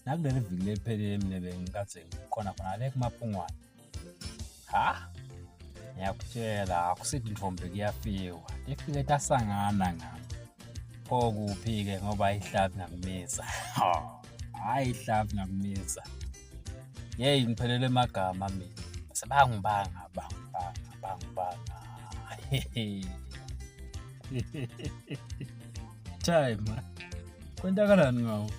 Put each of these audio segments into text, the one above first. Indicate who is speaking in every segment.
Speaker 1: nakuleli viki leliphelile mina bengikade ngikhona khona le kumapungwane ha ngiyakutshela akusithi intombi kuyafiwa ifike tasangana ngami pho kuphi-ke ngoba ihlabi ngakumisa hhayi ihlabi ngakumisa yeyi ngiphelele magama mina sebangibanga bangibanga bangibanga time kwenzakalani ngawo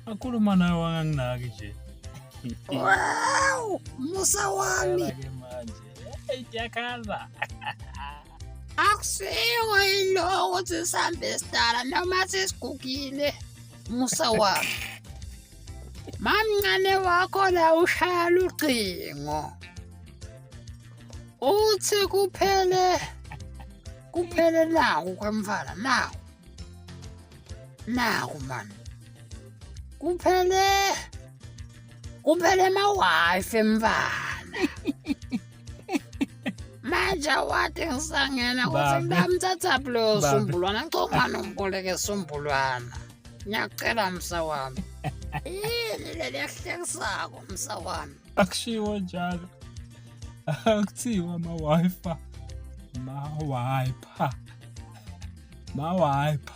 Speaker 1: akhuluma naye wanganginaki nje wow
Speaker 2: musa wami
Speaker 1: idyakhala
Speaker 2: akusiwo yiloko ukuthi sihambe sidala noma sesigugile musa wami Mamncane wakho la ushaya lucingo. Uthi kuphele kuphele naku kwemfana naku. Naku man. Kuphele kuphele ma wife mfana. manje wathi ngisangena ukuthi mntamthatha bulo sombulwana ngicongana umboleke sombulwana Ngiyakucela msa wami. Yini leli yahlekisako msa wami? Akushiwo njalo.
Speaker 1: Akuthiwa ama-wifi. Ma-wiper. Ma-wiper.